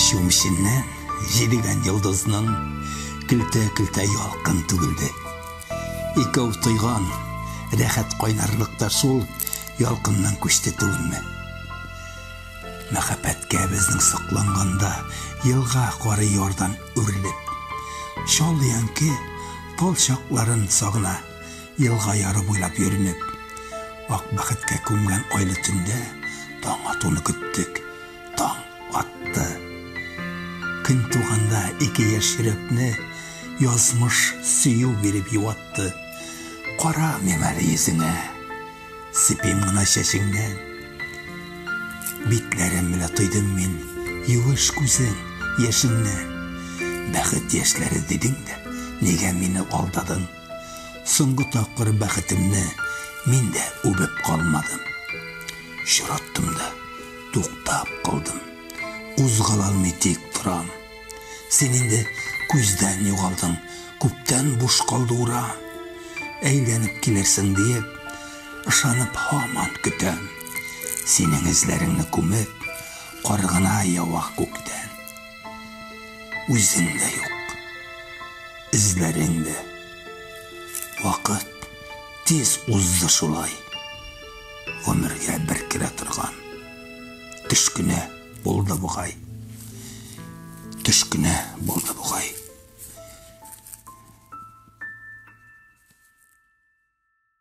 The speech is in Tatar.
Чү эченнән җидегән йолдызның көлтә-көлтә ялкын түгелде. Икәү тойган рәхәт кайнарлык та шул ялкыннан күчте түгелме? Мәхәббәткә безнең сокланганда елга кары ярдан үрелеп, чал янке тал чакларын сагына. Елга яры буйлап йөренеп, ак бәхеткә күмгән айлы төндә таң атуны көттек. Таң атты. Көн туганда ике яшь йөрәкне язмыш сөю биреп юатты. Карамыйм әле йөзеңә, сыпыйм гына чәчеңнән. Битләрем белән тойдым мин юеш күзең яшеннән. Бәхет яшьләре дидең дә, нигә мине алдадың? Соңгы тапкыр бәхетемне мин дә үбеп калмадым. Чираттым да, туктап калдым. Кузгала алмый тик торам. Син инде күздән югалдың, күптән буш калды ура. Әйләнеп килерсең диеп, ышанып һаман көтәм. Синең эзләреңне күмеп, кар гына ява күктән. Үзең дә юк. Эзләрең дә. Вакыт тиз узды шулай. Гомергә бер керә торган. Төш кенә булды бугай. Төш кенә булды бугай.